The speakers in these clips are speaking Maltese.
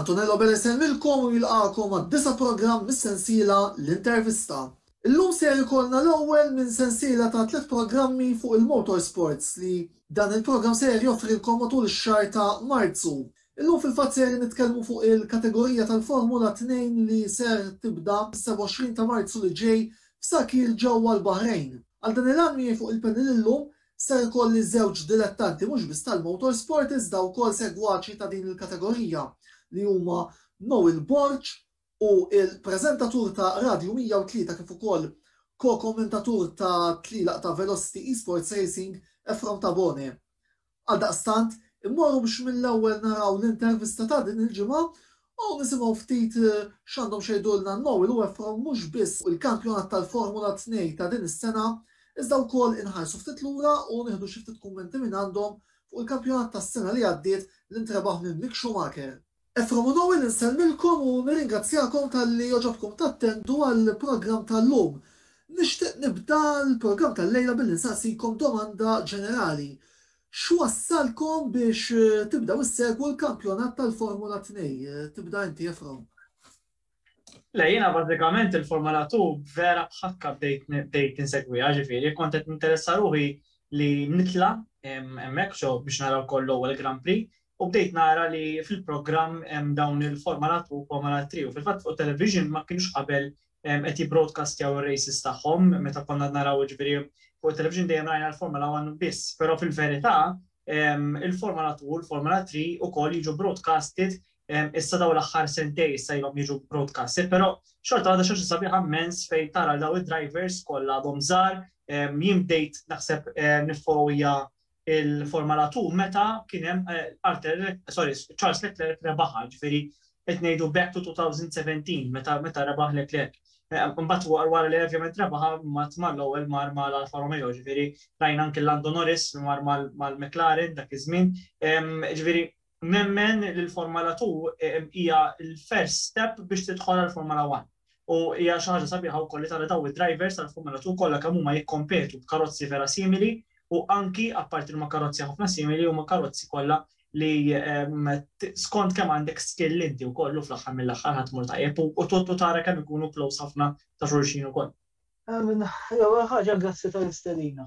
Antonello Bene jsellmilkom u jilqagħkom għad-disa' programm mis-sensiela L-Intervista. Illum ser ikollna l-ewwel minn sensiela ta' tliet programmi fuq il-motorsports li dan il-programm ser joffrilkom matul ix-xahar ta' Marzu. Illum fil-fatt ser nitkellmu fuq il-kategorija tal-Formula Tnejn li ser tibda mis-27 ta' Marzu li ġej f'Sakhir ġewwa l-Baħrejn. Għal dan il-għan miegħi fuq il-panel illum Ser ikolli żewġ dilettanti mhux biss tal-motorsport iżda wkoll segwaċi ta' din il-kategorija li huma Noel Borg u l-preżentatur ta' Radju 103 kif ukoll ko-kommentatur ta' tlielaq ta' Velocity Esports Racing Efrom Tabone. Għaldaqstant, immorru biex mill-ewwel naraw l-intervista ta' din il-ġimgħa Hawn nisimgħu ftit x'għandhom x'jgħidulna Noel u Ephraim mhux biss fuq il-kampjonat tal-Formula Tnej ta' din is-sena, iżda wkoll inħarsu ftit lura u nieħdu xi ftit kummenti minn għandhom fuq il-kampjonat tas-sena li għaddiet li ntrebaħ minn Mick Schumacher. Ephraim u Noel insellmilkom u nirringrazzjakom talli għoġobkom tattendu għall-programm tal-lum. Nixtieq nibda l-programm tal-lejla billi nsaqsikom domanda ġenerali. X'wassalkom biex tibdew issegwu l-kampjonat tal-Formula Tnej? Tibda inti Efrawn. Le jiena bażikament il-Formula Two vera b'ħakka bdejt bdejt insegwiha, ġifieri kont qed ninteressa ruħi li nitla' hemmhekk xo biex nara wkoll l-ewwel Grand Prix u bdejt nara li fil-programm hemm dawn il-formalat u komalatri u fil-fatt fuq it-television ma kienux qabel qed jibbroadcastjaw ir-races tagħhom meta konna naraw jiġifieri fuq it-television dejjem rajna l-Formula One biss, però fil-verità il-Formula Two u l-Formula Three ukoll jiġu broadcasted issa dawn l-aħħar sentejn issa ilhom jiġu broadcasted, però xorta waħda xi ħaġa sabiħa mmens fejn tara lil dawn id-drivers kollha għadhom żgħar, jien bdejt naħseb niffollowija il-Formula Two meta kien hemm Arthur, sorry, Charles Leclerc rebaħha, ġifieri qed ngħidu back to 2017 meta meta rebaħ Leclerc. Imbagħad wara wara li ovvjament rebaħha mbagħad mar l-ewwel mar ma' l-Alfa Romeo, ġifieri rajna anke Lando Norris mar mal-McLaren dak iż-żmien. Ġifieri Nemmen li l-Formula Two hija l-first step biex tidħol għall-Formula One u hija xi ħaġa sabiħa wkoll li tara dawn id-drivers tal-Formula Two kollha kemm huma jikkompetu b'karozzi vera simili u anki apparti li huma karozzi ħafna simili huma karozzi kollha li skont kemm għandek skill inti wkoll u fl-aħħar mill-aħħar ħadd imur tajjeb u u tara kemm ikunu close ħafna ta' xulxin ukoll. L-ewwel ħaġa grazzi tal-istedina.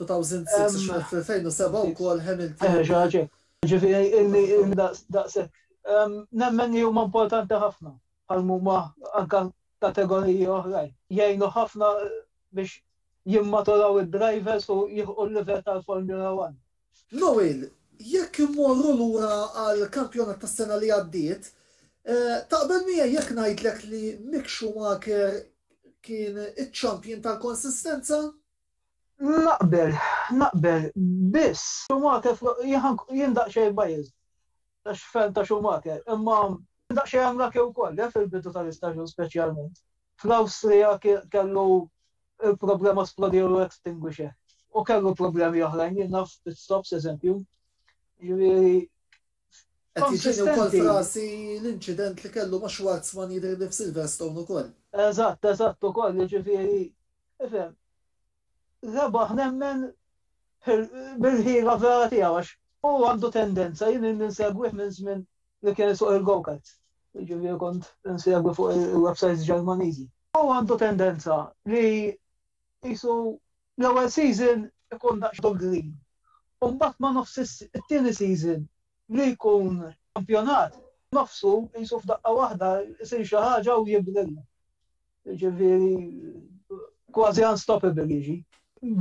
2006 xogħol fl-2007 wkoll Hamilton. Xi ħaġa hekk. Jiġifieri illi daqshekk. Nemmen li huma importanti ħafna bħal mhuma anke kategoriji oħrajn. Jgħinu ħafna biex jimmaturaw id-drivers u jilħqu l-livell tal-Formula One. Noel, jekk immorru lura għall-kampjonat tas-sena li għaddiet, taqbel miegħi jekk ngħidlek li Mick Schumacher kien iċ-champion tal-konsistenza? Naqbel, naqbel, biss Schumacher, jien daqsxejn biased għax fan ta' Schumacher, imma kien daqsxejn unlucky wkoll, eh, fil-bidu tal-istaġun speċjalment. Fl-Awstrija kellu l-problema splodew extinguisher. U kellu problemi oħrajn, jien naf pit stops eżempju. Jiġifieri Qed jiġini wkoll f'rasi l-inċident li kellu ma' Schwarzman jidhirli f'Silverstone ukoll. Eżatt, eżatt ukoll, jiġifieri ifhem. Rebaħ nemmen bil-ħila vera tiegħu għax hu għandu tendenza, jien ilni nsegwih minn żmien li kien isuq il-go-karts. Jiġifieri kont insegwi fuq il-websites Ġermaniżi. U għandu tendenza li qisu l-ewwel season ikun daqsxejn green. U mbagħad ma' nofs it-tieni season li jkun kampjonat, nofsu qisu f'daqqa waħda jsir xi ħaġa u jibrilja. Jiġifieri kważi unstoppable jiġi.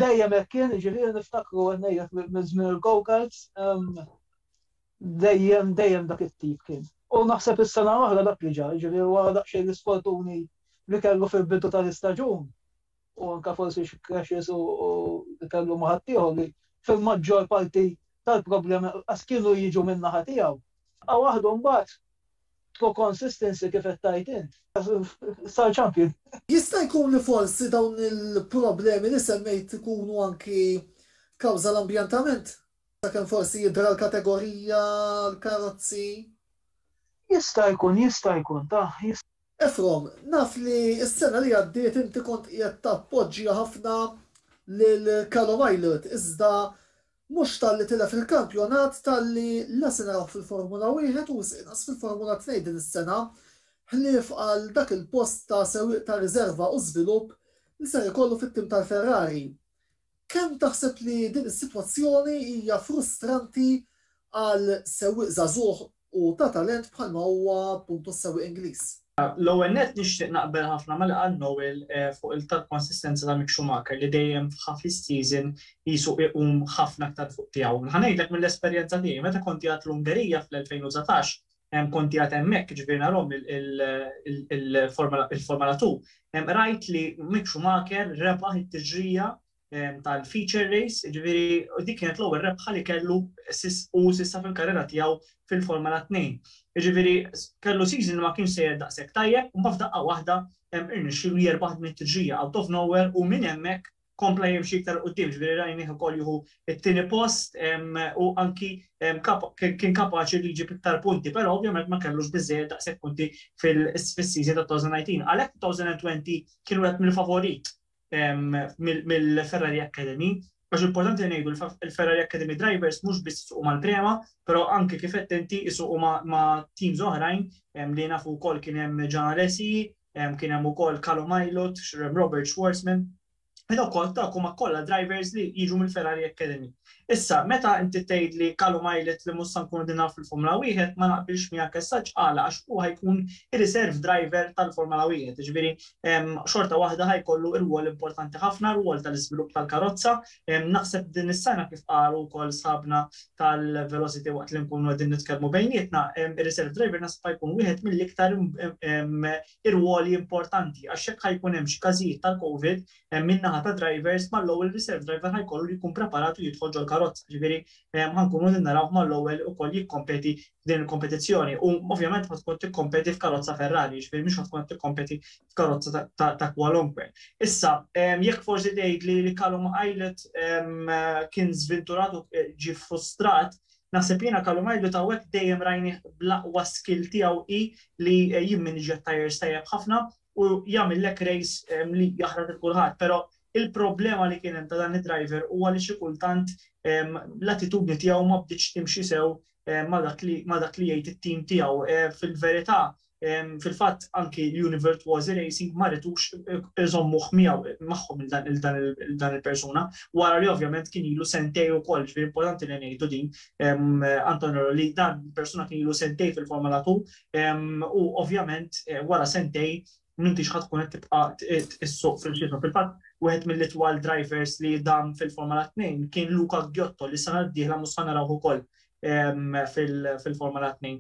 Dejjem hekk kien, jiġifieri niftakru qed ngħidlek minn żmien il-go-karts. Dejjem, dejjem dak it-tip kien. U naħseb is-sena l-oħra dak li ġara, jiġifieri wara daqsxejn l-isfortuni li kellu fil-bidu tal-istaġun, u anke forsi xi crashes u li kellu ma' ħaddieħor li fil-maġġor parti tal-problemi lanqas kienu jiġu min-naħa tiegħu. Bqa' waħdu mbagħad b'true consistency kif qed tgħid int. Sar champion. Jista' jkun li forsi dawn il-problemi li semmejt ikunu anki kawża l-ambjentament? Sakemm forsi jidhra l-kategorija, l-karozzi. Jista' jkun, jista' jkun, tah, jista'. Ephrom, naf li s-sena li għaddiet inti kont qiegħed tappoġġja ħafna lil Callum Ilott iżda mhux talli tilef il-kampjonat talli la se narawh fil-Formula Wieħed u wisq inqas fil-Formula Tnejn din is-sena ħlief għal dak il-post ta' sewwieq ta' riżerva u żvilupp li ser ikollu fit-tim tal-Ferrari. Kemm taħseb li din is-sitwazzjoni hija frustranti għal sewwieq żagħżugħ u ta' talent bħalma huwa appuntu s-sewwieq Ingliż? L-ewwel nett nixtieq naqbel ħafna ma' li qal Noel fuq il-tal-konsistenza ta' Mick Schumacher li dejjem f'half is-season qisu iqum ħafna aktar fuq tiegħu. Ħa ngħidlek mill-esperjenza tiegħi, meta kont qiegħed l-Ungerija fl-2019 hemm konti għad hemmhekk, jiġifieri narhom il-Formula 2, rajt li Mick Schumacher rebaħ it-tiġrija tal-feature race, jiġifieri dik kienet l-ewwel rebħa li kellu u s'issa fil-karriera tiegħu fil-Formula 2. Jiġifieri kellu season li ma kienx sejjer daqshekk tajjeb, imbagħad f'daqqa waħda irnexxielu jerbaħ din it-tiġrija out of nowhere u minn hemmhekk kompla jimxi iktar 'l quddiem, ġifieri rajnieh ukoll jieħu t-tieni post u anki kien kapaċi li jġib iktar punti, però ovvjament ma kellux biżżejjed daqshekk punti fis-season ta' 2019. Għalhekk 2020 kien wieħed mill-favorit mill-Ferrari Academy, għax importanti li ngħidu l-Ferrari Academy drivers mhux biss isuqu mal-Prema, però anki kif għedt inti isuqu ma' teams oħrajn li nafu wkoll kien hemm Gian Alesi, Kien hemm ukoll Callum Ilott, Robert Schwarzman, u dawk kollha dawk huma kollha drivers li jiġu mill-Ferrari Academy. Issa, meta inti tgħidli Callum Ilott li mhux se nkunu qegħdin naraw fil-Formula Wieħed, ma naqbilx miegħek as such, għala? Għax hu ħa jkun ir-reserve driver tal-Formula Wieħed, jiġifieri xorta waħda ħa jkollu rwol importanti ħafna, rwol tal-iżvilupp tal-karozza, Naħseb din is-sena kif qalu wkoll sħabna tal-Velocity waqt li nkunu qegħdin nitkellmu bejnietna, ir-reserve driver naħseb ħa jkun wieħed mill-iktar irwoli importanti għax jekk ħa jkun hemm xi każijiet tal-Covid min-naħa tad-drivers mal-ewwel reserve driver ħa jkollu jkun preparat u jidħol ġol-karozza. Jiġifieri ħa nkunu qegħdin narawh mal-ewwel ukoll jikkompeti f'din il-kompetizzjoni u ovvjament ħa tkun tikkompeti f'karozza Ferrari, jiġifieri mhux ħa tkun qed tikkompeti f'karozza ta' kwalunkwe. Issa, jekk forsi tgħid li li Callum Islet kien żvinturat u ġi frustrat, naħseb jiena Callum Islet hawnhekk dejjem rajni bl-aqwa skill tiegħu hi li jimminġja t-tajers tajjeb ħafna u jagħmillek race li jaħraq lil kulħadd. Però il-problema li kien hemm ta' dan id-driver huwa li xi kultant l-attitudni tiegħu ma bdietx timxi sew ma' dak li jgħid it-tim tiegħu. Fil-verità, fil-fatt anki l-Univert Wazi Racing ma ritux iżommuh miegħu magħhom il-dan il-persuna, wara li ovvjament kien ilu sentej ukoll, ġifieri importanti li ngħidu din, Antonio, li dan il-persuna kien ilu sentej fil-Formula 2 u ovvjament wara sentej m'intix ħa tkun qed tibqa' issuq fil-ġismu. Fil-fatt, wieħed mill-itwal drivers li dam fil-Formula 2 kien Luca Ghiotto li s-sena d-dieħla mhux ħa narawh ukoll fil-Formula 2.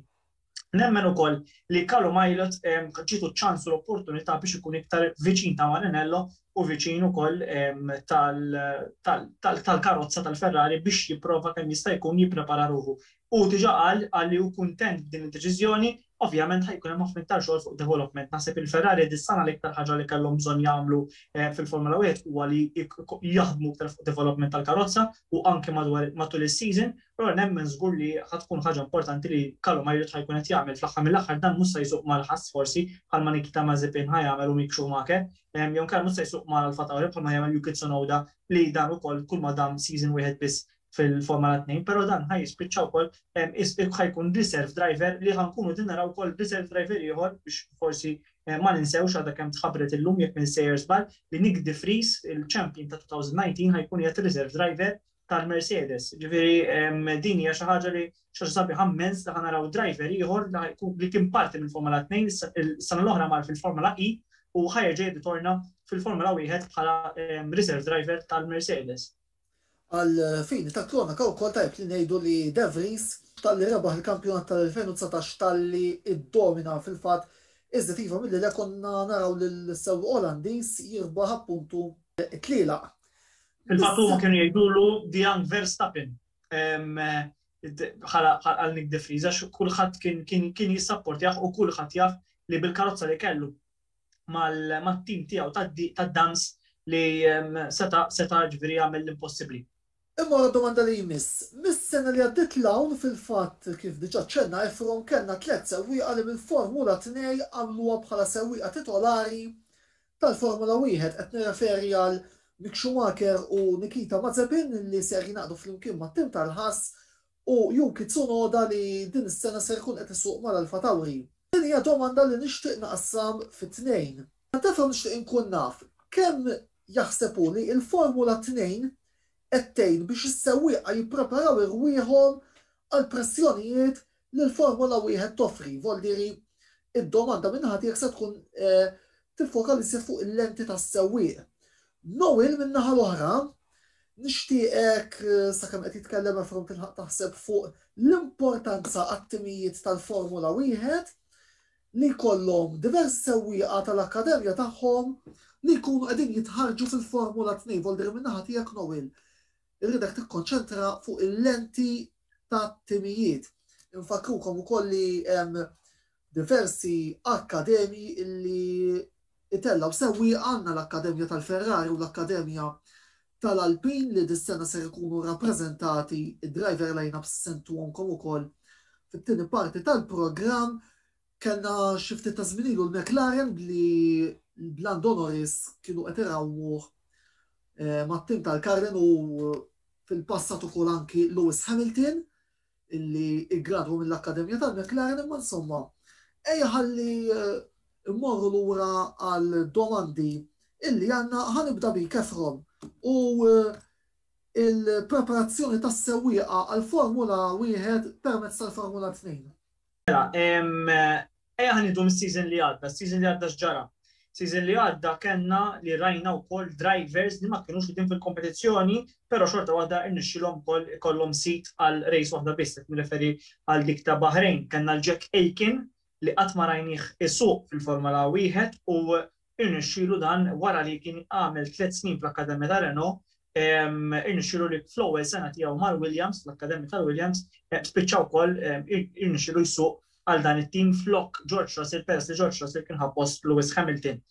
Nemmen ukoll li Kalu Majlet ġietu ċ-ċans u l-opportunità biex ikun iktar viċin ta' Marinello u viċin ukoll tal-karozza tal-Ferrari biex jipprova kemm jista' jkun jipprepara ruħu. Hu diġà qal qal li hu kuntent b'din id-deċiżjoni, ovvjament ħa jkun hemm ħafna iktar xogħol fuq development. Naħseb il-Ferrari dis-sena l-iktar ħaġa li kellhom bżonn jagħmlu fil-Formula Wieħed huwa li jaħdmu iktar fuq development tal-karozza u anke matul is-season, Però nemmen żgur li ħa tkun ħaġa importanti li Carlo Majrid ħa jkun qed jagħmel. Fl-aħħar mill-aħħar dan mhux sa jsuq mal-Haas forsi bħalma Nikita Mazepin ħa jagħmel u Mick Schumacher, jew inkella mhux sa jsuq ma' Alfa Tauri bħalma jagħmel Yuki Tsunoda li dan ukoll kulma dam season wieħed biss fil-Formula Tnejn, però dan ħa jispiċċa wkoll ħa jkun reserve driver li ħa nkunu qegħdin naraw ukoll reserve driver ieħor biex forsi ma ninsewx għadha kemm tħabbret illum jekk ma nsejjer żball li Nyck de Vries, il-champion ta' 2019 ħa jkun qiegħed reserve driver tal-Mercedes. Ġifieri din hija xi ħaġa li xorta sabi ħammens li ħanaraw driver ieħor li kien parti mill-Formula 2 is-sena l-oħra mar fil-Formula E u ħajerġa' jirritorna fil-Formula 1 bħala reserve driver tal-Mercedes. Għal fini ta' kronaca wkoll tajjeb li ngħidu li De Vries talli rebaħ il-kampjonat tal-2019 talli iddomina fil-fatt iżjed iva milli le konna naraw lill-sewwieq Olandiż jirbaħ appuntu t-tlielaq. Il-fatt huma kienu jgħidulu the young Verstappen għal Nick De Friza, kulħadd kien jissapportjah u kulħadd jaf li bil-karozza li kellu mal-tim tiegħu tad-dams li seta seta ġviri għamil l-impossibli. Imma la domanda li jmiss, mis-sena li għaddit l-hawn fil-fatt kif diġa ċenna Efron kellna tliet sewwieqa li mill-Formula 2 għamluha bħala sewwieqa titolari Tal-Formula Wieħed qed nirreferi għal Mick Schumacher u Nikita Mazepin li ser jingħaqdu flimkien mat-tim tal-Haas u Yuki Tsunoda li din is-sena ser ikun qed isuq mal-Alfa Tauri. Din hija domanda li nixtieq naqassam fi tnejn. Għaltefra nixtieq inkun naf kemm jaħseb hu li l-Formula Tnejn qed tgħin biex is-sewwieqa jippreparaw irwieħhom għall-pressjonijiet li l-Formola Wieħed toffri, Voldieri, id-domanda minn naħa tiegħek se tkun tiffoka biss fuq il-lenti tas-sewwieq. Noel min-naħa l-oħra, nixtieqek sakemm qed jitkellem Efron tilħaq taħseb fuq l-importanza għat-timijiet tal-Formola Wieħed li jkollhom diversi sewwieqa tal-akkademja tagħhom li jkunu qegħdin jitħarġu fil-Formula 2. Volder minn naħa tiegħek Noel, irridek tikkonċentra fuq il-lenti ta' timijiet. Infakkrukom ukoll li hemm diversi akkademji illi itellgħu sewwieqa għandna l-Akkademja tal-Ferrari u l-Akkademja tal-Alpin li dis-sena ser ikunu rappreżentati d-driver lineups sentuhomkom ukoll fit-tieni parti tal-programm. Kellna xi ftit ta' żmien ilu l-McLaren li l-Lando Norris kienu qed irawwuh mat-tim tal-Carlin u fil-passat ukoll anki Lewis Hamilton illi ggradwa mill-akkademja tal-McLaren imma insomma ejja ħalli mmorru lura għal domandi illi għandna ħa nibda bik Efron u l-preparazzjoni tas-sewwieqa għall-Formula Wieħed permezz tal-Formula Tnejn. Mela, ejja ħanidu mis-season li għadda, season li għadda x'ġara. Season li għadda kellna li rajna wkoll drivers li ma kienux din fil-kompetizzjoni, però xorta waħda irnexxilhom ukoll ikollhom sit għal race waħda biss, qed nirreferi għal dik ta' Bahrain. Kellna l-Jack Aiken li qatt ma rajnih isuq fil-Formula Wieħed u Irnexxielu dan wara li kien għamel tliet snin fl-akkademja ta' Renault, irnexxielu li fl-ewwel sena tiegħu mal-Williams, fl-akkademja tal-Williams, spiċċa wkoll irnexxielu jsuq għal dan it-tim flok George Russell peress li George Russell kien ħa post Lewis Hamilton.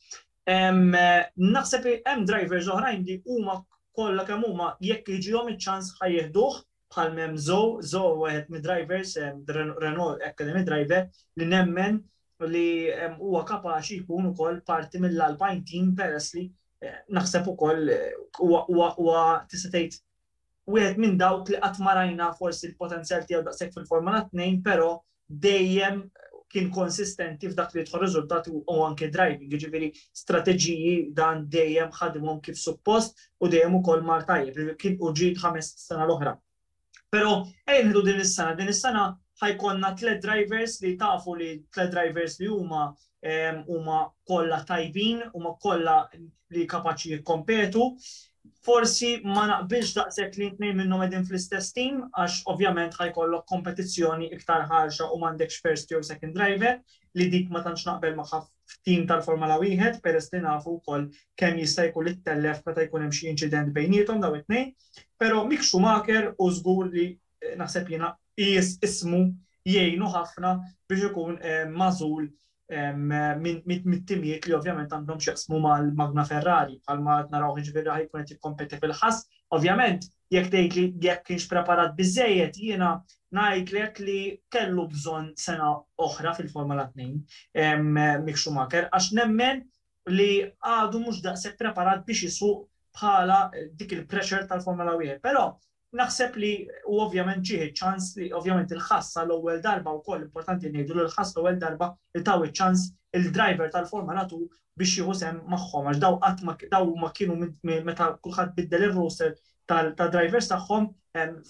Naħseb li hemm drivers oħrajn li huma kollha kemm huma jekk jiġihom iċ-ċans ħa jieħduh, bħal m'hemm Zoe, Zoe wieħed mid-drivers, Renault Academy driver, li nemmen li huwa kapaċi jkun ukoll parti mill-Alpine team peress li naħseb ukoll huwa tista' tgħid wieħed minn dawk li qatt ma rajna forsi l-potenzjal tiegħu daqshekk fil-Formula 2, però dejjem kien konsistenti f'dak li jidħol riżultati u anke driving, jiġifieri strateġiji dan dejjem ħadimhom kif suppost u dejjem ukoll mar tajjeb, kien u ġiet ħames sena l-oħra. Però ejja nieħdu din is-sena, din is-sena ħajkollna tliet drivers li tafu li tliet drivers li huma huma kollha tajbin, huma kollha li kapaċi jikkompetu, forsi ma naqbilx daqshekk li tnejn minnhom qegħdin fl-istess team għax ovvjament ħajkollok kompetizzjoni iktar ħarxa u m'għandekx first jew second driver li dik ma tantx naqbel magħha f'team tal-Formula Wieħed peress li nafu wkoll kemm jista' jkun li ttellef meta jkun hemm xi inċident bejniethom daw it-tnejn. Però Mick Schumacher u żgur li naħseb jiena qies ismu jgħinu ħafna biex ikun magħżul mit-timijiet li ovvjament għandhom x'jaqsmu mal-magna Ferrari bħalma qed narawh jiġifieri ħa jkun qed jikkompeti fil-Haas. Ovvjament jekk tgħidli jekk kienx preparat biżżejjed jiena ngħidlek li kellu bżonn sena oħra fil-Formula Tnejn Mick Schumacher għax nemmen li għadu mhux daqshekk preparat biex isuq bħala dik il-pressure tal-Formula Wieħed. Però Naħseb li u ovvjament ġieħ iċ-ċans li ovvjament il-ħassa l-ewwel darba wkoll importanti ngħidu li l-ħass l-ewwel darba li taw iċ-ċans il-driver tal-Formula 2 biex jieħu sem magħhom għax daw qatt ma daw ma kienu meta kulħadd biddel ir-roster tal-drivers tagħhom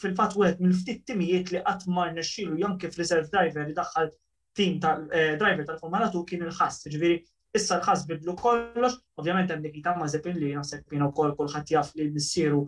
fil-fatt wieħed mill-ftit timijiet li qatt ma rnexxielu jom kif reserve driver idaħħal tim ta' driver tal-Formula 2 kien il-ħass, jiġifieri issa l-ħass bidlu kollox, ovvjament hemm dik ta' Mazepin li naħseb kien ukoll kulħadd jaf li missieru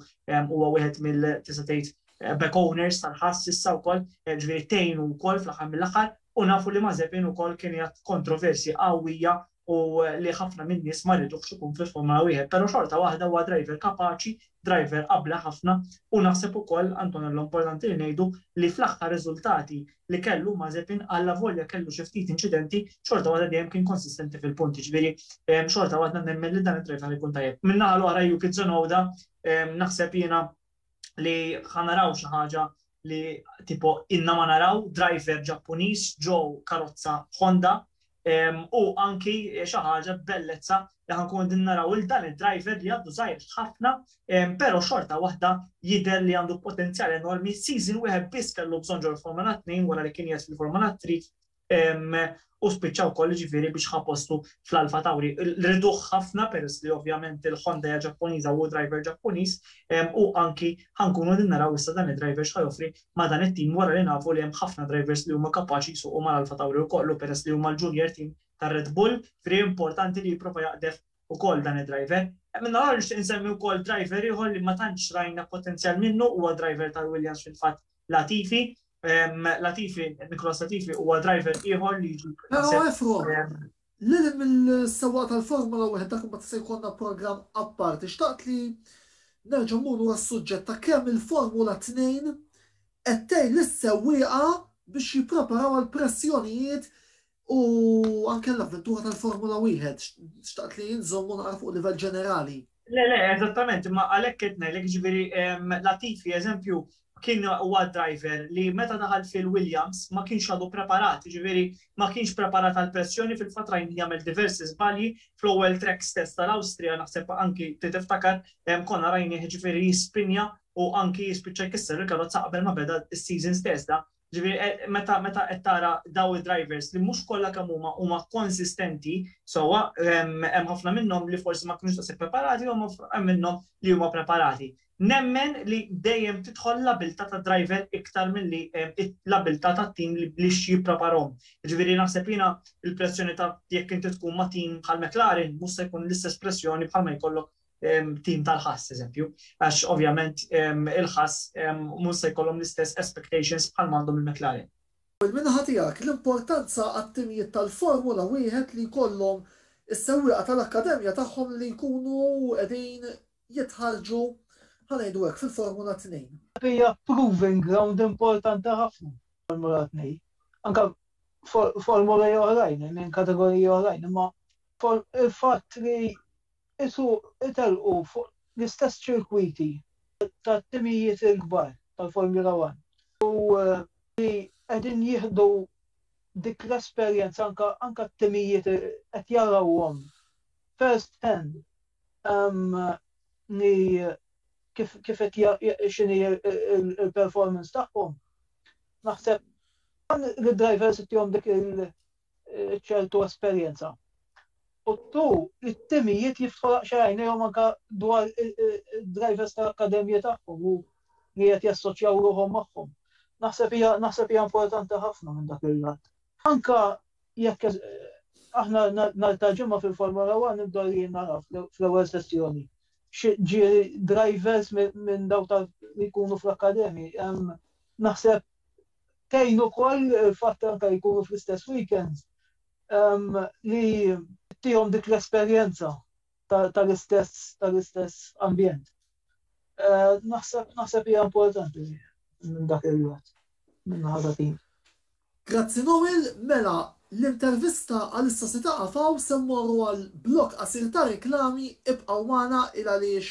huwa wieħed mill tista' tgħid back owners tal-ħass issa wkoll, ġifieri tgħinu wkoll fl-aħħar mill-aħħar u nafu li Mazepin ukoll kien jgħid kontroversji qawwija u li ħafna min-nies ma jridux ikun fil-Formula Wieħed, però xorta waħda huwa driver kapaċi, driver abla ħafna u naħseb ukoll, Antonello, importanti li ngħidu li fl-aħħar riżultati li kellu Mazepin allavolja kellu xi ftit inċidenti, xorta waħda dejjem kien konsistenti fil-punti, ġifieri xorta waħda nemmen li dan id-driver ikun tajjeb. Min-naħa l-oħra Yuki Tsunoda naħseb jiena li ħanaraw xi ħaġa li tipo inna ma naraw driver Ġappuniż ġo karozza Honda u anki xi ħaġa bellezza li ħankun din naraw il dan id-driver li għaddu żgħir ħafna però xorta waħda jidher li għandu potenzjal enormi season wieħed biss kellu bżonn ġol-Formula 2 wara li kien jgħid fil-Formula 3 u spiċċa wkoll jiġifieri biex ħa postu fl-Alfa Tauri. Riduh ħafna peress li ovvjament il-Honda hija Ġappuniża u hu driver Ġappuniż u anki ħa nkunu qegħdin naraw issa dan id-driver x'ħa joffri ma' dan it-tim wara li nafu li hemm ħafna drivers li huma kapaċi jsuqu mal-Alfa Tauri wkoll u peress li huma l-junior team tar-Red Bull, jiġifieri importanti li jipprova jaqdef ukoll dan id-driver. Minn naħa l-oħra nixtieq insemmi wkoll driver ieħor li ma tantx rajna potenzjal minnu, huwa driver tal-Williams fil-fatt Latifi, Latifi, Nikolas Latifi huwa driver ieħor li jiġi. Però efru, lil mill-sewwaq tal-Formula wieħed dak imbagħad se jkollna programm apparti. Xtaqt li nerġa' mmur lura s-suġġett ta' kemm il-Formula Tnejn qed tgħin lis-sewwieqa biex jippreparaw għall-pressjonijiet U anke l-avventura tal-Formula Wieħed, xtaqt li nżomm u naqra fuq livell ġenerali. Le, le, eżattament, imma għalhekk qed ngħidlek ġifieri Latifi eżempju kien huwa driver li meta daħal fil-Williams ma kienx għadu preparat, ġifieri ma kienx preparat għal pressjoni fil-fatt rajn jagħmel diversi żbalji fl-ewwel track stess tal-Awstrija naħseb anki tiftakar konna rajnih ġifieri jispinja u anki jispiċċa jkisser il-karozza qabel ma beda s-season stess da Ġifieri eh, meta meta qed tara daw id-drivers li mhux kollha kemm huma huma konsistenti sewwa hemm ħafna minnhom li forsi ma kinux tasib preparati u hemm minnhom li huma preparati. Nemmen li dejjem tidħol l-abilta ta' driver iktar milli eh, l-abilta ta' tim li blix jippreparhom. Ġifieri naħseb jiena il-pressjoni ta' jekk inti tkun ma' tim bħal McLaren mhux se jkun l-istess pressjoni bħal ma jkollok tim tal-ħass, eżempju, għax ovvjament il-ħass mhux se jkollhom l-istess expectations bħal ma għandhom il-McLaren. Paul, min-naħa tiegħek, l-importanza għat-timijiet tal-Formula Wieħed li jkollhom is-sewwieqa tal-akkademja tagħhom li jkunu qegħdin jitħarrġu, ħa ngħidu hekk, fil-Formula Tnejn. Hija proving ground importanti ħafna l-Formula Tnejn. Anke formoli oħrajn, minn kategoriji oħrajn, imma il-fatt li Qisu jtellqu fuq l-istess ċirkwiti tat-timijiet il-kbar tal-Formula One u li qegħdin jieħdu dik l-esperjenza anke t-timijiet qed jarawhom first hand li kif qed x'inhi l-performance tagħhom. Naħseb dan lid-drivers ittihom dik ċertu esperjenza. U tu it-timijiet jiftħu laqxa għajnejhom anka dwar drivers ta' akademija tagħhom u li qed jassoċjaw ruħhom magħhom. Naħseb hija naħseb hija importanti ħafna minn dak il-lat. Anka jekk aħna nartaġimma fil-Formula 1 nibda li nara fl-ewwel sessjoni. Ġieri drivers minn daw li jkunu fl-akademi, naħseb tgħin ukoll fatt anke jkunu fl-istess weekends li tihom dik l-esperjenza tal-istess tal-istess ambjent. Naħseb hija importanti minn dak il-wet, minn ħaġa tim. Grazzi Noel, mela l-intervista għalissa se taqaf hawn se mmorru għal blokk qasir ta' reklami ibqgħu magħna il għaliex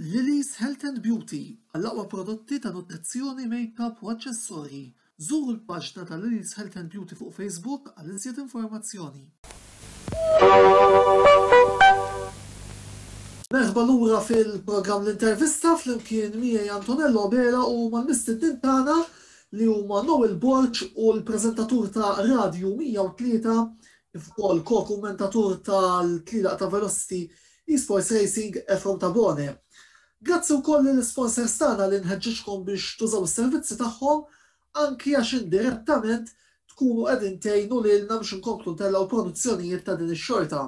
Lily's Health and Beauty, Għall-aqwa prodotti ta' nutrizzjoni, makeup u aċċessorji, żuru l-paġna ta' Lily's Health and Beauty fuq Facebook għal iżjed informazzjoni. Merħba lura fil-programm L-Intervista flimkien miegħi Antonello Abela u mal-mistednin tagħna li huma Noel Borg u l-preżentatur ta' Radju 103 kif ukoll ko-kummentatur tal-Tlielaq ta' Velocity Esports Racing Efrem Tabone. Grazzi wkoll lill-isponsors tagħna li nħeġġiġkom biex tużaw is-servizzi tagħhom anki għax indirettament tkunu qegħdin tgħinu lilna biex inkomplu ntellgħu produzzjonijiet ta' din ix-xorta.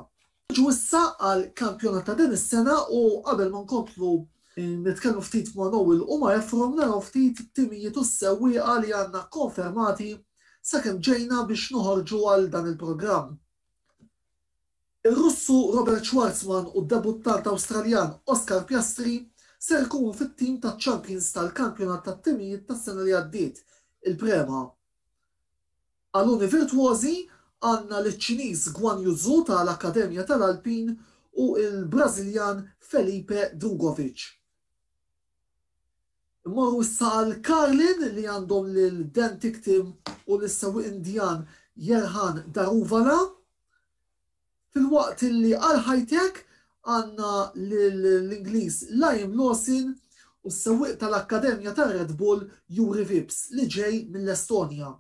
Niġu issa għall-kampjonat ta' din is-sena u qabel ma nkomplu nitkellmu ftit ma' Noel u ma' Efrem naraw ftit it-timijiet u s-sewwieqa li għandna kkonfermati sakemm ġejna biex noħorġu għal dan il-programm. Ir-Russu Robert Schwarzman u d-debuttant Awstraljan Oscar Piastri ser ikunu fit-tim taċ-champions tal-Kampjonat tat-Timijiet tas-sena li għaddiet, il-Prema. Għaluni virtwożi għandna liċ-Ċiniż Guan Yu Zhu ta' l-Akkademja ta' l-Alpine u l-Brażiljan Felipe Drugovich. Immorru issa għal Carlin li għandhom lil Dan Ticktim u lis-sewwieq Indjan Yerhan Daruvala. Filwaqt li għal Hi-Tech għandna lill-Ingliż Liam Lawson u s-sewwieq tal-akkademja ta' Red Bull Juri Vips li ġej mill-Estonja.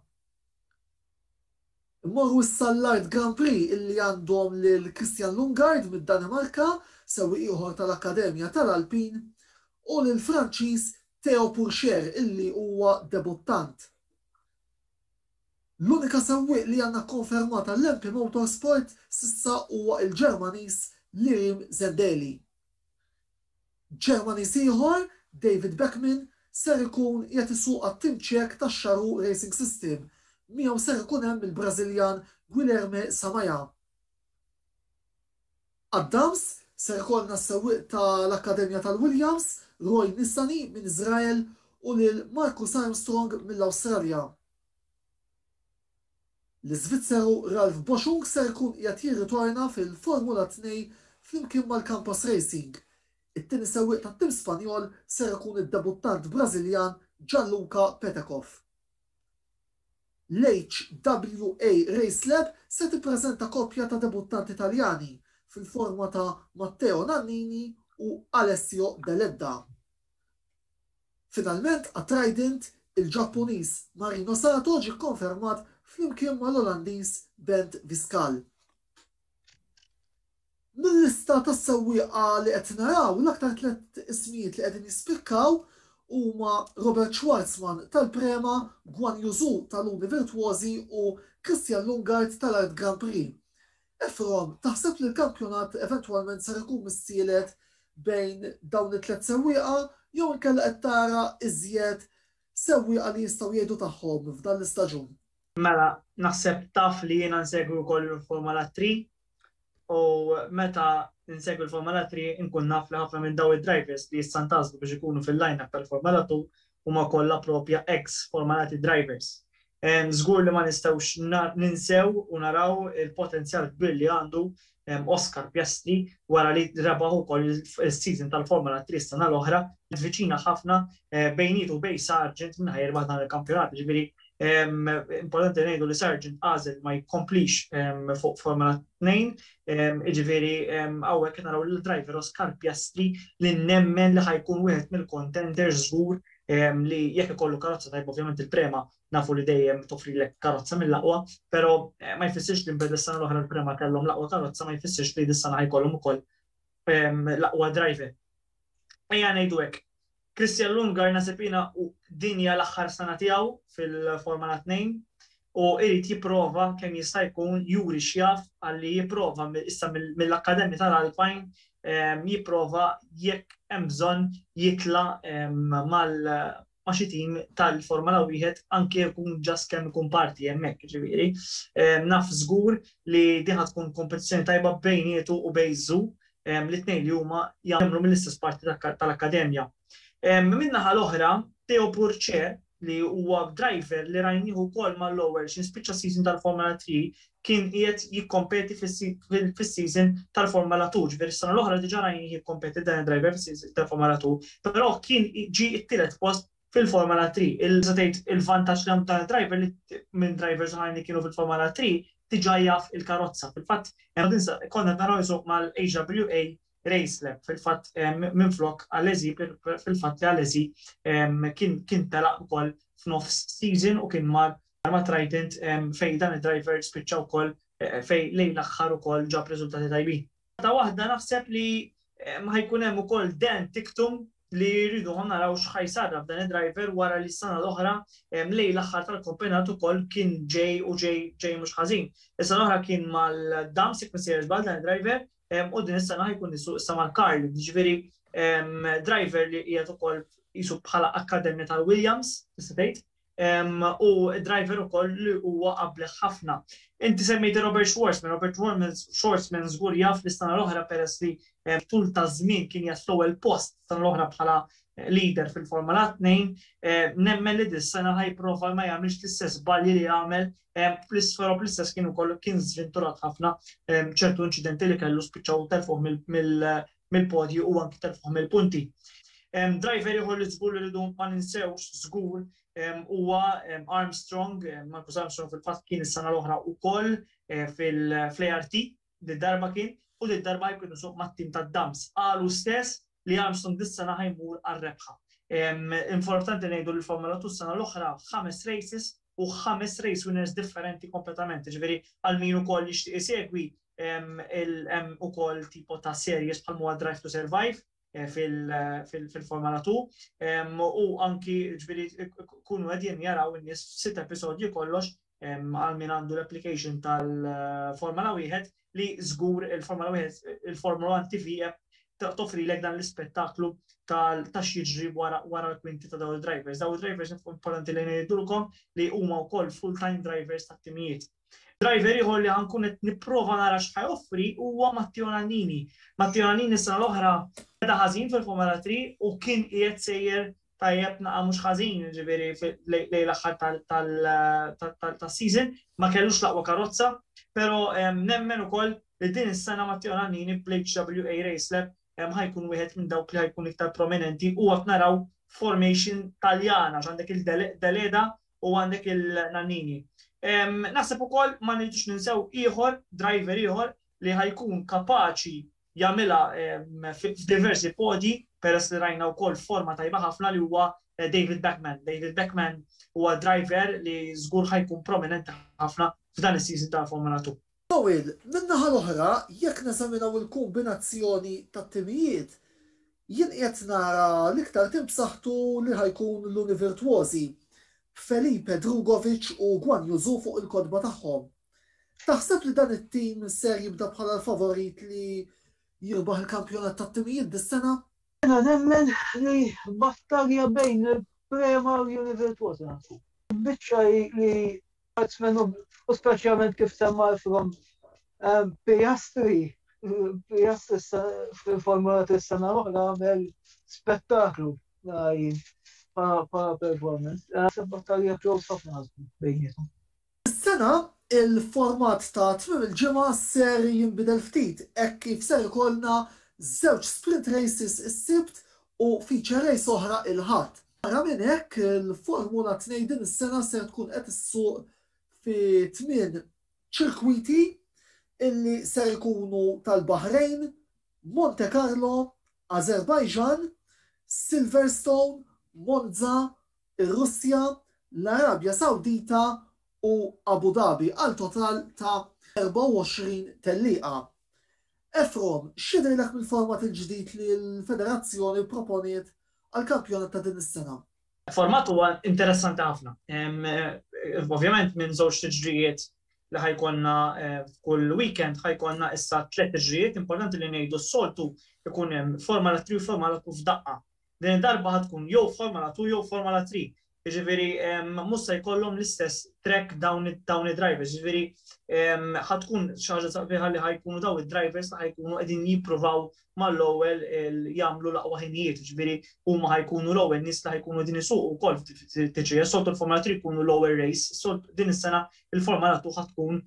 Immorru issa għall-Art Grand Prix illi għandhom lil Christian Lungard mid-Danimarka, sewwieq ieħor tal-akkademja tal-Alpin, u lill-Franċiż Théo Pourchaire illi huwa debuttant. L-unika sewwieq li għandna kkonfermat għall-MP Motorsport s'issa huwa l-Ġermaniż Lirim Zendeli. Ġermaniż ieħor, David Beckmann, ser ikun qiegħed isuq għat-tim Ċek ta' Charoo Racing System, miegħu ser ikun hemm il-Brażiljan Guilherme Samaia. Għad-dams ser ikollna s-sewwieq ta' l-Akkademja tal-Williams, Roy Nissany minn Iżrael u lil Marcus Armstrong mill-Awstralja. L-Iżvizzeru Ralf Boschung ser ikun qiegħed jirritorna fil-Formula Tnej flimkien mal-Campos Racing. It-tieni sewwieq tat-tim Spanjol ser ikun id-debuttant Brażiljan Gianluca Petekoff. L-HWA Race Lab se tippreżenta koppja ta' debuttanti Taljani fil-forma ta' Matteo Nannini u Alessio Deledda. Finalment għat-Trident, il-Ġappuniż Marino Sato ġie kkonfermat flimkien mal-Olandiż Bent Viscal. Mil-lista tas-sewwieqa li qed naraw, l-aktar tliet ismijiet li qegħdin jispikkaw huma Robert Schwarzman tal-Prema, Guan Yu Zhu tal-Uni Virtwożi u Christian Lungard tal-Art Grand Prix. Efrom, taħseb li l-kampjonat eventwalment ser ikun missielet bejn dawn it-tliet sewwieqa jew inkella qed tara iżjed sewwieqa li jistgħu jgħidu tagħhom f'dan l-istaġun? Mela, naħseb taf li jiena nsegwi wkoll il-Formula Three U meta insegwi l-Formula 3 inkun naf li ħafna minn dawn id-drivers li issa ntgħażlu biex ikunu fil-line-up tal-Formula 2 huma kollha proprja ex Formula 3 drivers. Żgur li ma nistgħux ninsew u naraw il-potenzjal kbir li għandu Oscar Piastri wara li rebaħ ukoll is-season tal-Formula 3 s-sena l-oħra, ivviċina ħafna bejnietu u bejn Sargeant minn ħa jirbaħ dan il-kampjonat, jiġifieri Importanti ngħidu li Sargent għażel ma jkomplix fuq Formula 2, jiġifieri hawnhekk qed naraw lil driver Oscar Piastri li nemmen li ħa jkun wieħed mill-contenders żgur li jekk ikollu karozza tajba ovvjament il-Prema nafu li dejjem toffrilek karozza mill-aqwa, però ma jfissirx li mbeda s-sena l-oħra l-Prema kellhom l-aqwa karozza ma jfissirx li dis-sena ħa jkollhom ukoll l-aqwa driver. Ejja ngħidu hekk, Christian Lundgaard naħseb jiena din hija l-aħħar sena tiegħu fil-Formula Tnejn u jrid jipprova kemm jista' jkun juri x'jaf għalli jipprova issa mill-akkademja tal-Alpine ehm, jipprova jekk hemm bżonn jitla ehm, mal ma' xi tim tal-Formula wieħed anke jkun ġast kemm ikun parti hemmhekk ġifieri. Naf żgur li diħa tkun kompetizzjoni tajba bejnietu u bejżu li t-tnejn li huma jagħmlu mill-istess parti tal-Akkademja. Min-naħa l-oħra, Teo Pourchaire, li huwa driver li rajnieh ukoll mal-Lowell x'in spiċċa s-season tal-Formula Three, kien qiegħed jikkompeti fis-season tal-Formula Two. Ġifieri s-sena l-oħra diġà rajnieh jikkompeti dan id-driver fis-season tal-Formula Two, però kien ġie t-tielet post fil-Formula 3. Tista' tgħid il-vantaġġ li għandu dan id-driver li minn drivers oħrajn li kienu fil-Formula 3 diġà jaf il-karozza. Fil-fatt, konna qed naraw isuq mal-HWA Race Lab fil-fatt minflok Alesi, fil-fatt li Alesi kien telaq ukoll f'nofs season u kien mar ma' Trident fejn dan id-driver spiċċa wkoll fejn lejn l-aħħar ukoll ġab riżultati tajbin. Xorta waħda naħseb li ma ħajkun hemm ukoll dan tiktum li jridu ħon naraw x'ħajsarra f'dan id-driver wara li s-sena l-oħra mlej l-aħħar tal-kompjonat ukoll kien ġej u ġej ġej mhux ħażin. Is-sena l-oħra kien mal-dams jekk missejjer żball dan id-driver u din is-sena ħajkun nisu issa mal-Karl, ġifieri driver li qiegħed ukoll jisu bħala akkademja tal-Williams, tista' tgħid, u driver ukoll li huwa qableħ ħafna. Inti semmejt Robert Schwarzman, Robert Schwarzman żgur jaf li s-sena l-oħra peress li eh, tul ta' żmien kien jgħat fl-ewwel post sena l-oħra bħala eh, leader fil-Formula 2, eh, nemmen li dis-sena ħajprova ma jagħmilx l-istess balji li għamel fl-isfera bl-istess kien ukoll kien żventurat ħafna ċertu inċidenti li kellu spiċċaw telfuh mill-podju u anki telfuh mill-punti. Driver ieħor li żgur li rridu ma ninsewx żgur huwa Armstrong, Marcus Armstrong fil-fatt kien is-sena l-oħra wkoll fl-ART, did-darba kien, u did-darba jkun isuq mat-tim tad-Dams. Qal hu stess li Armstrong dis-sena ħa jmur għar-rebħa. Importanti ngħidu li l-Formula Two s-sena l-oħra f'ħames races u ħames race winners differenti kompletament, jiġifieri għal min ukoll jixtieq isegwi hemm ukoll tipo ta' series bħal huwa Drive to Survive fil-Formula 2 u anki ġifieri kunu qegħdin jaraw in-nies f'sitt episodji kollox għal min għandu l-application tal-Formula 1 li żgur il-Formula Wieħed, il-Formula One TV app toffrilek dan l-ispettaklu ta' x'jiġri wara l-kwinti ta' dawn id-drivers. Dawn id-drivers importanti li ngħidulkom li huma wkoll full-time drivers tat-timijiet. Driver ieħor li ħankun qed nipprova nara x'ħa joffri huwa Matteo Nannini. Matteo Nannini s-sena l-oħra beda ħażin fil-Formula 3 u kien qiegħed sejjer tajjeb naqa' mhux ħażin, ġifieri lejn l-aħħar tas-season, ma kellux l-aqwa karozza, però nemmen ukoll li din is-sena Matteo Nannini bl-HWA Race Lab ħa jkun wieħed minn dawk li ħa jkun iktar prominenti u qed naraw formation Taljan għax għandek il-Deledda u għandek il-Nannini. Naħseb ukoll ma nridux ninsew ieħor, driver ieħor li ħa jkun kapaċi jagħmilha f'diversi podi peress li rajna wkoll forma tajba ħafna li huwa eh, David Beckman. David Beckman huwa driver li żgur ħajkun prominenti ħafna f'dan is-season ta' Formula 2. Towil, min-naħa l-oħra, jekk neżaminaw il-kombinazzjoni tat-timijiet, jien qiegħed nara l-iktar tim b'saħħtu li ħajkun l-Univirtuosi, b'Felipe Drugovic u Guan Yuzu fuq il-kotba tagħhom. Taħseb li dan it-tim ser jibda bħala l-favorit li jirbaħ il-kampjonat tat-timijiet dis-sena? Jiena nemmen li battalja bejn il-Primarju Livell Two se nagħlqu. Il-biċċa hi li Hartsmen u speċjalment kif semma Efrom, Piastri, Piastri fil-Formula Three s-sena l-oħra għamel spettaklu bħala performance. Naħseb battalja close ħafna bejniethom. Dis-sena, il-format ta' tmiem il-ġimgħa ser jinbidel ftit hekk kif ser ikollna żewġ sprint races is-Sibt u feature race oħra l-Ħadd. Barra minn hekk, il-Formula Tnejn din is-sena ser tkun qed issuq fi tmien ċirkwiti illi ser ikunu tal-Baħrejn, Montekarlo, Ażerbajġan, Silverstone, Monza, ir-Russja, l-Arabja Sawdita u Abu Dhabi għal total ta' 24 tellieqa. Efrom, x'jidhirlek mill-format il-ġdid li l-federazzjoni pproponiet għall-kampjonat ta' din is-sena? Format huwa interessanti ħafna. Ovvjament minn żewġ tiġrijiet li ħa jkollna f'kull weekend ħa jkollna issa tliet tiġrijiet, importanti li ngħidu s-soltu jkun hemm Formula Three u Formula Two f'daqqa. Din id-darba ħa tkun jew Formula Two jew Formula Three. Jiġifieri mhux se jkollhom l-istess track dawn id-drivers. Jiġifieri ħa tkun xi ħaġa sabiħa li ħa jkunu dawn id-drivers li ħa jkunu qegħdin jippruvaw mal-ewwel jagħmlu l-aqwa ħinijiet. Jiġifieri huma ħa jkunu l-ewwel nies li ħa jkunu qegħdin isuqu wkoll f'TCS. Soltu l-Formula Three jkunu l-ewwel race. Din is-sena il-forma nagħtuh ħa tkun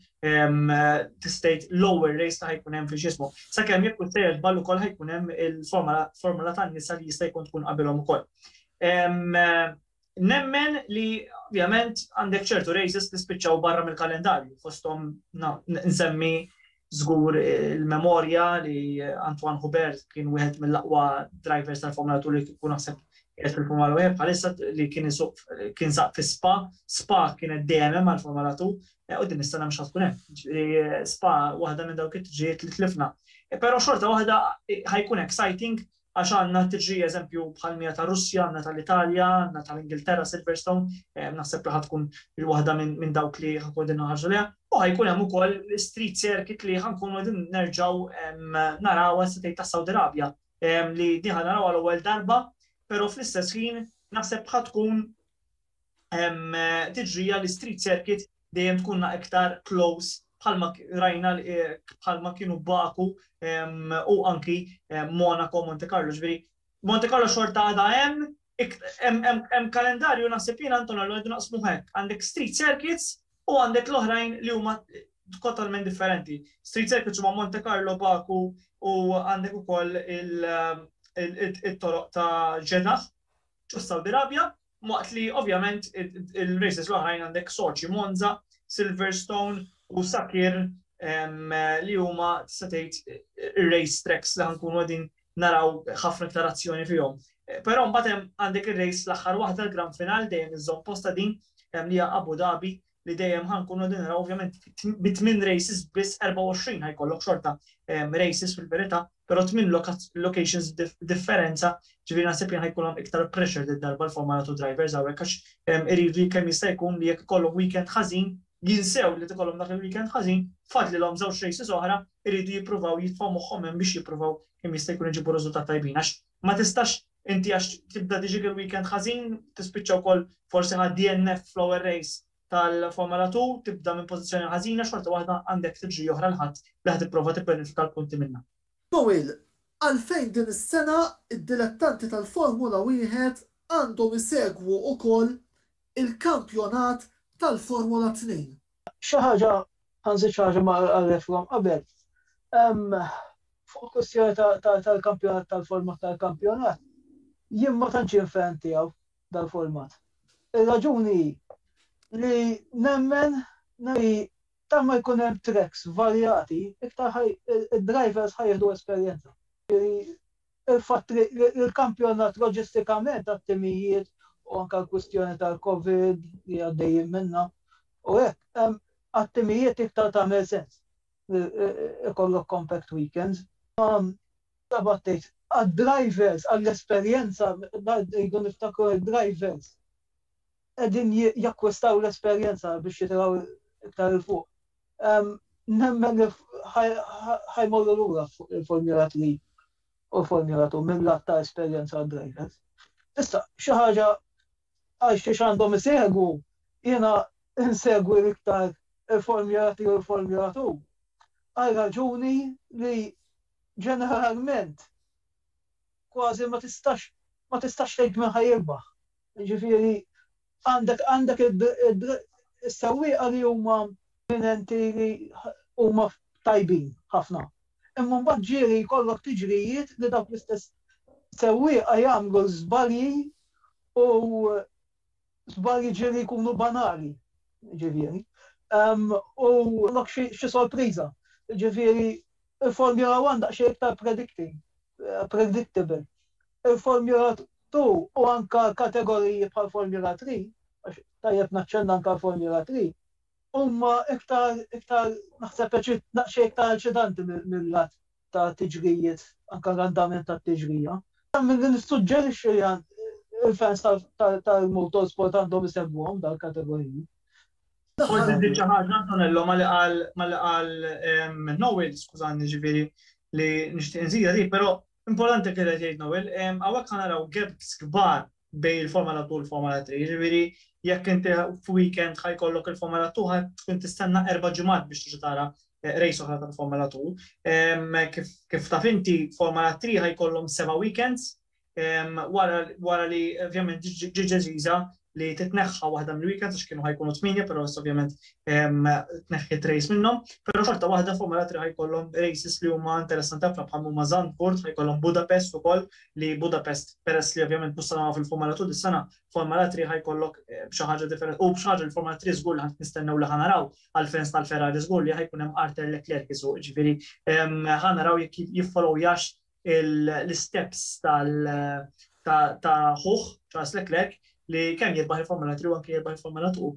tistejt lower race ta' ħajkun hemm fil-ġismu. Sakemm jekk sejjer żball ukoll ħajkun hemm il-formula tan-nisa li jista' jkun tkun qabilhom ukoll. Nemmen li ovvjament għandek ċertu races li spiċċaw barra mill-kalendarju, fosthom nsemmi Żgur il-memorja li Antoine Hubert kien wieħed mill-aqwa drivers tal-Formula 2 li kieku naħseb qiegħed fil-Formula 1 bħalissa li kien isuq kien saq fi Spa, Spa kienet dejjem hemm għall-Formula 2 u din is-sena mhux tkun hemm. Ġifieri Spa waħda minn dawk it-triġijiet li tlifna. Però xorta waħda ħajkun exciting Għax għandna tiġi eżempju bħal mija ta' Russja, għandna tal-Italja, għandna tal-Ingilterra Silverstone, naħseb li ħa tkun il-waħda minn dawk li ħa nkunu qegħdin inħarsu lejha, u ħa jkun hemm ukoll l-Street Circuit li ħa nkunu qegħdin nerġgħu narawha se tgħid tas-Saudi Arabia, li din ħa narawha l-ewwel darba, però fl-istess ħin naħseb ħa tkun tiġrija li street circuit dejjem tkunna iktar close bħalma rajna eh, bħalma kienu Baku u anki Monaco, Monte Carlo, ġviri. Monte Carlo xorta għada hemm, hemm kalendarju naħseb jien Anton għallu għedu naqsmu hekk. Għandek street circuits u għandek l-oħrajn li huma totalment differenti. Street circuits huma Monte Carlo, Baku u għandek ukoll il-toroq ta' ġedaħ ġo Saudi Arabia Waqt li ovvjament il-races l-oħrajn għandek Sochi, Monza, Silverstone u Sakir li huma tista' tgħid ir-race tracks li ħankunu qegħdin naraw ħafna iktar azzjoni fihom. Però mbagħad hemm għandek ir-race l-aħħar waħda l-Grand Final dejjem iżżomm posta din li hija Abu Dhabi li dejjem ħan kunu din naraw ovvjament bi tmien races biss 24 ħajkollok xorta ehm, races fil-verità, però tmien locations differenza ġifieri naħseb li ħajkolhom iktar pressure din darba l-forma nagħtu drivers hawnhekk għax ehm, iridu kemm jista' jkun li jekk ikollhom weekend ħażin jinsew li tikollhom dak il-weekend ħażin, fadli l-om żewġ races oħra, iridu jippruvaw jitfaw moħħom hemm biex jippruvaw kemm jista' jkun iġibu riżultat tajbin għax ma tistax Inti għax tibda tiġik il-weekend ħażin, tispiċċa wkoll forsi ħadt DNF fl-ewwel race tal-Formula Two, tibda minn pożizzjoni ħażina, xorta waħda għandek tiġri oħra l-Ħadd li ħa tipprova tibbenefika l-punti minnha. Doyle, Għalfejn din is-sena d-dilettanti tal-Formula Wieħed għandhom isegwu wkoll il-kampjonat tal-Formula Tnejn? Xi ħaġa, anzi xi ħaġa ma qallethom qabel, fuq il-kwistjoni tal-kampjonat tal-format tal-kampjonat, jien ma tantx jien fan tiegħu dal-format. Ir-raġuni hi li nemmen li ta' ma jkun hemm tracks varjati, iktar id-drivers ħajħdu esperjenza. il-fatt li l-kampjonat loġistikament għat-timijiet u anke l-kwistjoni tal-Covid li għaddejjin minnha u hekk, għat-timijiet iktar tagħmel sens li jkollok compact weekends. Ta' b'għad tgħid, għad-drivers, għall-esperjenza, rridu niftakru li d-drivers, qegħdin jakkwistaw l-esperjenza biex jitilgħu iktar 'il fuq. Nemmen li ħa jmorru lura fuq il-Formula Three u l-Formula Two mil-lat ta' esperjenza għad-drivers. Issa, xi ħaġa għal xiex għandhom isegwu, jiena insegwi l-iktar il-Formula Three u l-Formula Two għal raġuni li ġeneralment kważi ma tistax ma tistax tgħid min ħa jirbaħ. Jiġifieri għandek għandek is-sewwieqa li huma eminenti li huma tajbin ħafna. Imma mbagħad ġieli jkollok tiġrijiet li dawk l-istess sewwieqa jagħmlu żbalji u żbalji ġieli jkunu banali. Jiġifieri. U jkollok xi sorpriża. Jiġifieri l-Formula One daqsxejn iktar predicting, predictable. Il-Formula Tu, u anke kategoriji bħal Formula Three, għax tajjeb naċċenna anke għal Formula Three, huma iktar, iktar, naħseb daqsxejn iktar eċitanti mil-lat ta' tiġrijiet, anke l-andament tat-tiġrija. Milli nissuġġerixxi li l-fans tal-motorsport għandhom isegwuhom dal-kategoriji. Forsi żżid xi ħaġa, Antonello, malli qal Noel, skużani, jiġifieri li nixtieq inżidha dik, però Importanti kif qed jgħid Noel, hawnhekk ħa naraw gaps kbar bejn il-Formula 2 u l-Formula 3, jiġifieri jekk inti f'weekend ħa jkollok il-Formula 2 ħa tkun tistenna erba' ġimgħat biex tiġi tara race oħra tal-Formula 2. Kif taf inti, Formula 3 ħa jkollhom seba' weekends wara li ovvjament ġiet deċiża li titneħħa waħda mill-weekend għax kienu ħajkunu tminja, però issa ovvjament tneħħiet race minnhom, però xorta waħda fuq mela tri ħajkollhom races li huma interessanti ħafna bħal huma Zandvoort, ħajkollhom Budapest ukoll li Budapest peress li ovvjament mhux sanaw fil-Formula 2 dis-sena, Formula 3 ħajkollok eh, xi ħaġa differenti u xi ħaġa l-Formula 3 żgur li ħadd nistennew li ħanaraw għall-fans tal-Ferrari żgur li ħajkun hemm Arthur Leclerc isu, ġifieri ħanaraw jekk jiffolowjax l-isteps ta' ħuħ Charles Leclerc li kemm jirbaħ il-Formula 3 u anke jirbaħ il-Formula 2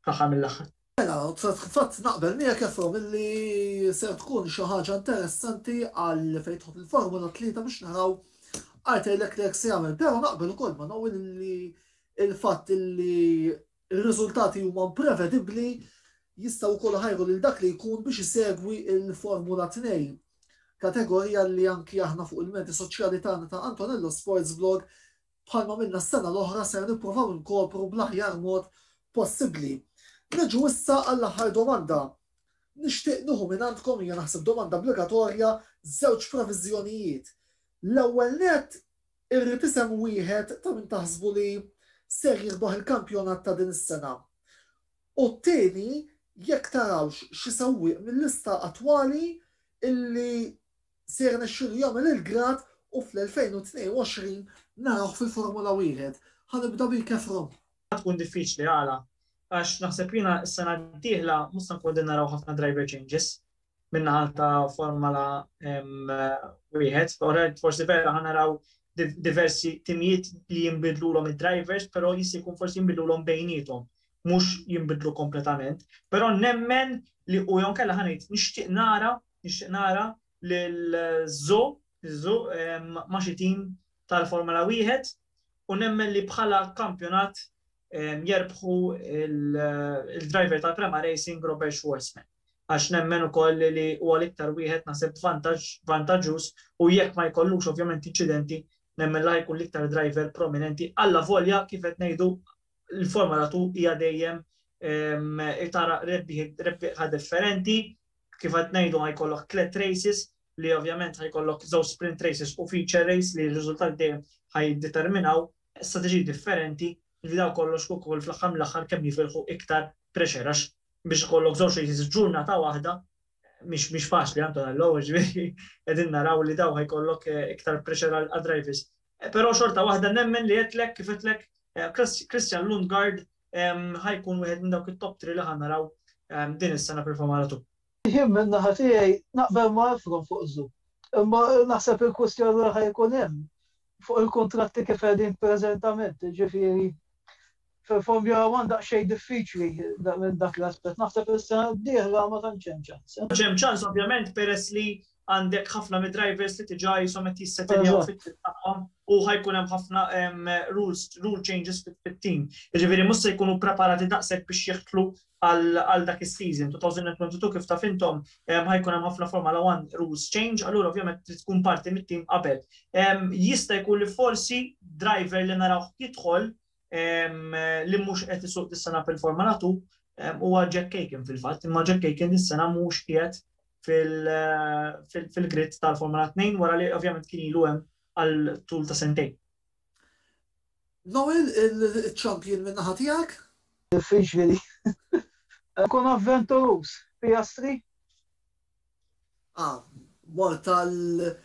fl-aħħar mill-aħħar. Mela, fil-fatt naqbel miegħek Efrom illi se tkun xi ħaġa interessanti għal fejn tħobb il-Formula 3 biex naraw Arthur Leclerc se jagħmel, però naqbel ukoll ma' Noel li il-fatt li Ir-riżultati huma imprevedibbli, jistgħu wkoll iħajru lil dak li jkun biex isegwi l-Formula Tnejn, kategorija li anki aħna fuq il-medji soċjali tagħna ta' Antonello Sports Blog, bħalma għamilna s-sena l-oħra, ser nippruvaw inkopru bl-aħjar mod possibbli. Niġu issa għall-aħħar domanda. Nixtieq nieħu mingħandkom, hija naħseb domanda obbligatorja, żewġ previżjonijiet. L-ewwel nett, Irrid isem wieħed ta' min taħsbu li ser jirbaħ il-kampjonat ta' din is-sena. U t-tieni jekk tarawx xi sewwieq mil-lista attwali illi se jirnexxielu jagħmel il-grad u fl-2022 narawh fil-Formula Wieħed. Ħa nibda bik Efron. Ħa tkun diffiċli, għala? Għax naħseb jiena s-sena d-dieħla mhux se nkunu qegħdin naraw ħafna driver changes. min-naħa ta' Formula wieħed, forsi vera ħa naraw diversi timijiet li jinbidlulhom id-drivers, però jista' jkun forsi jinbidlulhom bejniethom, mhux jinbidlu kompletament. Però nemmen li u jew kellha ħanejt nixtieq nara, nixtieq nara lil Zo, Zo ma' xi tim tal-Formula wieħed u nemmen li bħala kampjonat jerbħu il-driver tal-Prema Racing Robert Schwarzman. għax nemmen ukoll li huwa l-iktar wieħed naħseb vantaġġ vantaġġuż u jekk ma jkollux ovvjament inċidenti nemmen li ħa jkun l-iktar driver prominenti allavolja kif qed ngħidu l-Formula 2 hija dejjem ehm, tara rebbieħa differenti kif qed ngħidu ħa jkollok tliet races li ovvjament ħajkollok żewġ sprint races u feature race li r-riżultat dejjem ħajdeterminaw strateġiji differenti li dawk kollox kif ukoll fl-aħħar mill-aħħar kemm jifilħu iktar pressure għax biex ikollok żewġ races f'ġurnata waħda mhix mhix faċli Antonello u ġifieri qegħdin naraw li dawk ħajkollok iktar pressure għad-drivers. Però xorta waħda nemmen li għedtlek kif għedtlek Christian Lundgaard ħajkun wieħed minn dawk it-top three li ħa naraw din is-sena fil-Formula 2. Jien minn naħa tiegħi naqbel ma' Efron fuq Zoo. Imma naħseb il-kwistjoni li ħa jkun hemm fuq il-kuntratti kif qegħdin preżentament, jiġifieri fil-Formula One daqsxejn diffiċli minn dak l-aspett. Naħseb is-sena d-dieħla ma tantx hemm ċans. Mhux hemm ċans ovvjament peress li għandek ħafna mid-drivers li diġà qishom qed jissetiljaw fit-team tagħhom u ħa jkun hemm ħafna rule changes fit-team. Jiġifieri mhux se jkunu ppreparati daqshekk biex jeħtlu għal dak is-season. 2022 kif taf intom ħa jkun hemm ħafna Formula One rules change, allura ovvjament trid tkun parti mit-team qabel. Jista' jkun li forsi driver li narawh jidħol li mhux qed isuq dis-sena fil-Forma Natu huwa Jack Aiken fil-fatt, imma Jack Aiken dis-sena mhux qiegħed fil-grid tal-Forma 2 wara li ovvjament kien ilu hemm għal tul ta' sentejn. Noel, il-champion minn naħa tiegħek? Diffiċli. Kun avventuruż, Piastri? A, Mort għal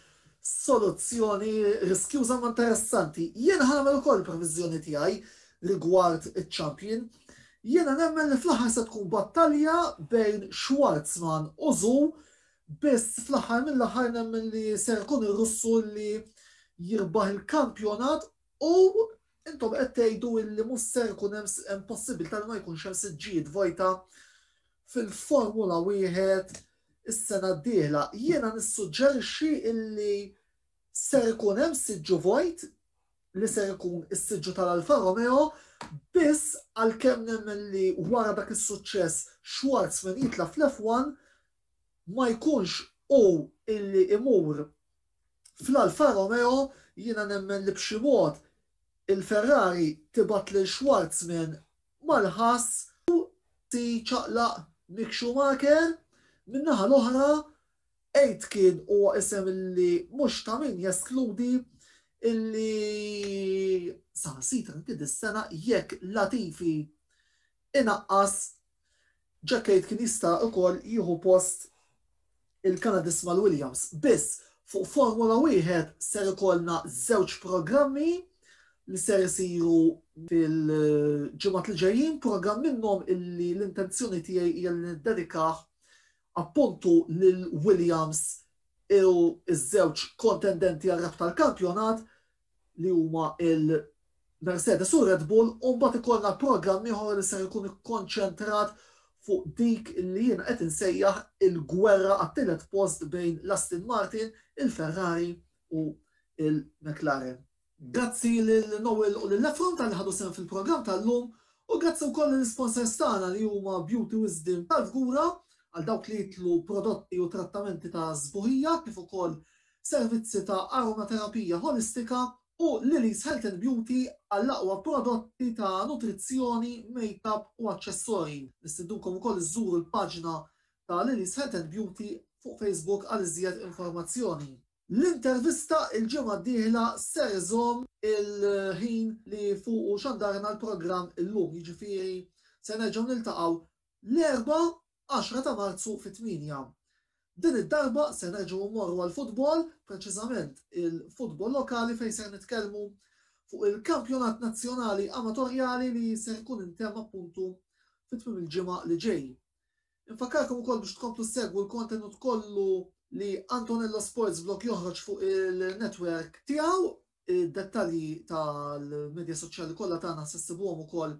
soluzzjoni riskjuża ma interessanti. Jiena ħanagħmel ukoll previżjoni tiegħi rigward iċ-champion. Jiena nemmen li fl-aħħar se tkun battalja bejn Schwarzman u Zu biss fl-aħħar mill-aħħar nemmen li ser ikun ir-Russu li jirbaħ il-kampjonat u Intom qed tgħidu illi mhux ser ikun hemm hemm possibilità li ma jkunx hemm siġġijiet vojta fil-Formula wieħed is-sena d-dieħla. Jiena nissuġġerixxi illi ser ikun hemm siġġu vojt li ser ikun is-siġġu tal-Alfa Romeo biss għalkemm nemmen li wara dak is-suċċess Schwarz minn jitla fl-F1 ma jkunx u illi imur Fl-Alfa Romeo jiena nemmen li b'xi mod il-Ferrari tibgħat lil Schwarzman mal-ħass u tiċaqlaq Mick Schumacher. Min-naħa l-oħra, Aitken huwa isem li mhux ta' min jeskludi li saħansitra anki dis-sena jekk Latifi inaqqas Jackade kien jista' ukoll jieħu post il-Kanadist Mal Williams, biss fuq Formula Wieħed ser ikollna żewġ programmi li ser isiru fil-ġimgħat li ġejjin, programm minnhom illi l-intenzjoni tiegħi hija li niddedikah appuntu lil Williams u ż-żewġ kontendenti għar-rebħ tal-kampjonat li huma l-Mercedes u r-Red Bull u mbagħad ikollna programm ieħor li ser ikun ikkonċentrat fuq dik li jiena qed insejjaħ il-gwerra għat-tielet post bejn l-Aston Martin, il-Ferrari u l-McLaren. Grazzi lil Noel u lil Efron talli ħadu sehem fil-programm tal-lum u grazzi wkoll lill-isponsors tagħna li huma Beauty Wisdom tal-Fgura għal dawk li jitlu prodotti u trattamenti ta' sbuħija kif ukoll servizzi ta' aromaterapija ħolistika u Lily's Health and Beauty għall-aqwa prodotti ta' nutrizzjoni, makeup u aċċessorji. Nistidnukom ukoll iżżuru l-paġna ta' Lily's Health and Beauty fuq Facebook għal iżjed informazzjoni. L-intervista l-ġimgħa d-dieħla ser iżomm il-ħin li fuqu xandarna l-programm illum, jiġifieri se nerġgħu niltaqgħu l-Erbgħa għaxra ta' Marzu fit-tmienja. Din id-darba se nerġgħu mmorru għall-futbol, preċiżament il-futbol lokali fejn ser nitkellmu fuq il-kampjonat nazzjonali amatorjali li ser ikun intemm appuntu fi tmiem il-ġimgħa li ġej. Infakkarkom ukoll biex tkomplu ssegwu l-kontenut kollu li Antonello Sports Blog joħroġ fuq il-netwerk tiegħu Id-dettalji tal-medja soċjali kollha tagħna se ssibuhom ukoll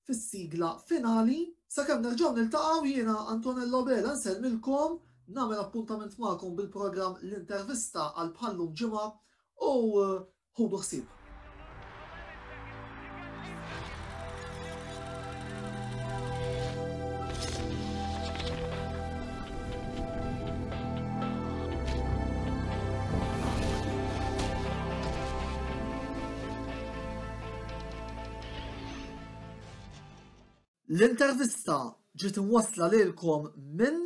fis-sigla finali. Sakemm nerġgħu niltaqgħu jiena Antonello Abela nsellmilkom, nagħmel appuntament magħkom bil-programm L-Intervista għal bħal-lum ġimgħa u ħudu ħsieb. L-intervista ġiet imwassla lilkom minn